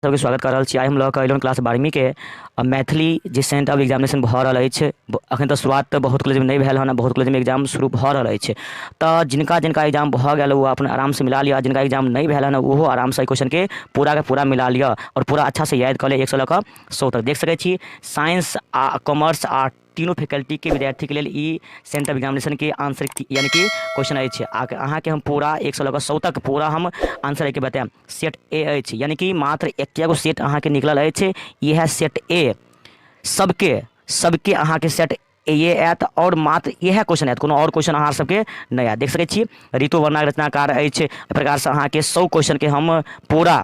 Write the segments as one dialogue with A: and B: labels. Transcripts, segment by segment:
A: सबके स्वागत कऽ रहल छी आइ हम लऽ कऽ अयलहुँ क्लास बारहवींके आ मैथिली जे सेंट आब एग्जामिनेशन भऽ रहल अछि ब- अखन तऽ शुरुआत तऽ बहुत कॉलेजमे नहि भेल हन आ बहुत कॉलेजमे एग्जाम शुरू भऽ रहल अछि तऽ जिनका जिनका एग्जाम भऽ गेल ओ अपन आरामसँ मिला लिअ आ जिनका एग्जाम नहि भेल हन ओहो आरामसँ एहि क्वेश्चनके पूराके पूरा मिला लिअ आओर पूरा अच्छासँ याद कऽ लिअ एकसँ लऽ कऽ सौ तक देख सकै छी साइंस आ कॉमर्स आ तीनू फैकल्टीके विद्यार्थीके लेल ई सेंटर ऑफ एग्जामिनेशनके आंसर यानि कि क्वेश्चन अछि आ अहाँके हम पूरा एक सए लऽ कऽ सौ तक पूरा हम आंसर एहिके बतायब सेट ए अछि यानि कि मात्र एकेगो सेट अहाँके निकलल अछि इएह सेट ए सबके सबके अहाँके सेट ये आयत आओर मात्र इएह क्वेश्चन आयत कोनो आओर क्वेश्चन अहाँ सबके नहि आयत देख सकै छी ऋतु वर्णाक रचनाकार अछि एहि प्रकारसँ अहाँके सौ क्वेश्चनके हम पूरा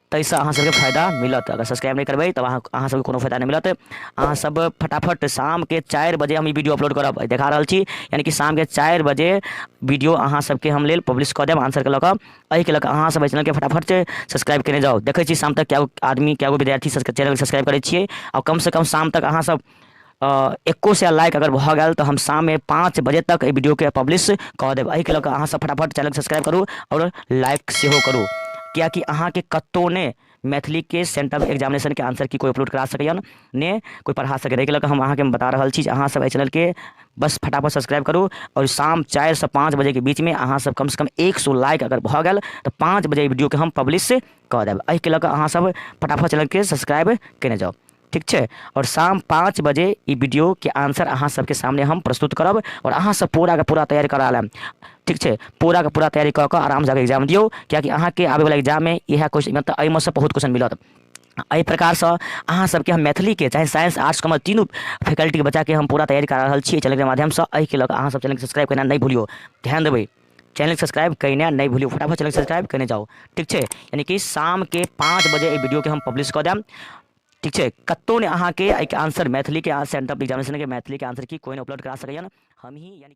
A: ताहिसँ अहाँ सबके फायदा मिलत अगर सब्सक्राइब नहि करबै तब अहाँ अहाँ सबके कोनो फायदा नहि मिलत अहाँ सब फटाफट शामके चारि बजे हम ई वीडियो अपलोड करब आइ देखा रहल छी यानि कि शामके चारि बजे वीडियो अहाँ सबके हम लेल पब्लिश कऽ देब आंसरके लऽ कऽ एहिके लऽ कऽ अहाँ सब एहि चैनलके फटाफट से सब्सक्राइब केने जाउ देखै छी शाम तक कए गो आदमी कए गो विद्यार्थी सबके चैनल सब्सक्राइब करै छियै आओर कमसँ कम शाम तक अहाँ सब एक्को सए लाइक अगर भऽ गेल तऽ हम शाममे पाँच बजे तक एहि वीडियोके पब्लिश कऽ देब एहिके लऽ कऽ अहाँसभ फटाफट चैनलके सब्सक्राइब करू आओर लाइक सेहो करू किएकि अहाँके कतहु ने मैथिलीके सेंटर एग्जामिनेशनके आंसर की कोइ अपलोड करा सकैए ने कोइ पढ़ा सकैए एहिके लऽ कऽ हम अहाँके बता रहल छी जे अहाँसभ एहि चैनलके बस फटाफट सब्सक्राइब करू आओर शाम चारिसँ पाँच बजेके बीचमे अहाँसभ कमसँ कम एक सौ लाइक अगर भऽ गेल तऽ पाँच बजे वीडियोके हम पब्लिश कऽ देब एहिके लऽ कऽ अहाँसभ फटाफट चैनलके सब्सक्राइब कयने जाउ ठीक छै आओर शाम पाँच बजे ई वीडियोके आंसर अहाँ सबके सामने हम प्रस्तुत करब आओर अहाँ सब पूराके पूरा तैयारी करा लेब ठीक छै पूराके पूरा तैयारी कऽ कऽ आरामसँ जाकऽ एग्जाम दियौ किएकि अहाँके आबैवला एग्जाममे इएह क्वेश्चन मतलब एहिमे से बहुत क्वेश्चन मिलत एहि प्रकारसँ अहाँ सबके हम मैथिलीके चाहे साइंस आर्ट्स कॉमर्स तीनू फैकल्टीके बच्चाके हम पूरा तैयारी करा रहल छी चैनलके माध्यमसँ एहिके लऽ कऽ अहाँ सब चैनलके सब्सक्राइब करना नहि भूलियौ ध्यान देबै चैनल सब्सक्राइब कयने नहि भूलियो फटाफट चैनल सब्सक्राइब कयने जाउ ठीक छै यानी कि शामके पाँच बजे एहि वीडियोके हम पब्लिश कऽ देब ठीक छै कतहु नहि अहाँके एहिके आंसर मैथिलीके सेंटर एग्जामिनेशनके मैथिलीके आंसर की कोइ नहि उपलब्ध करा सकैए हमही यानी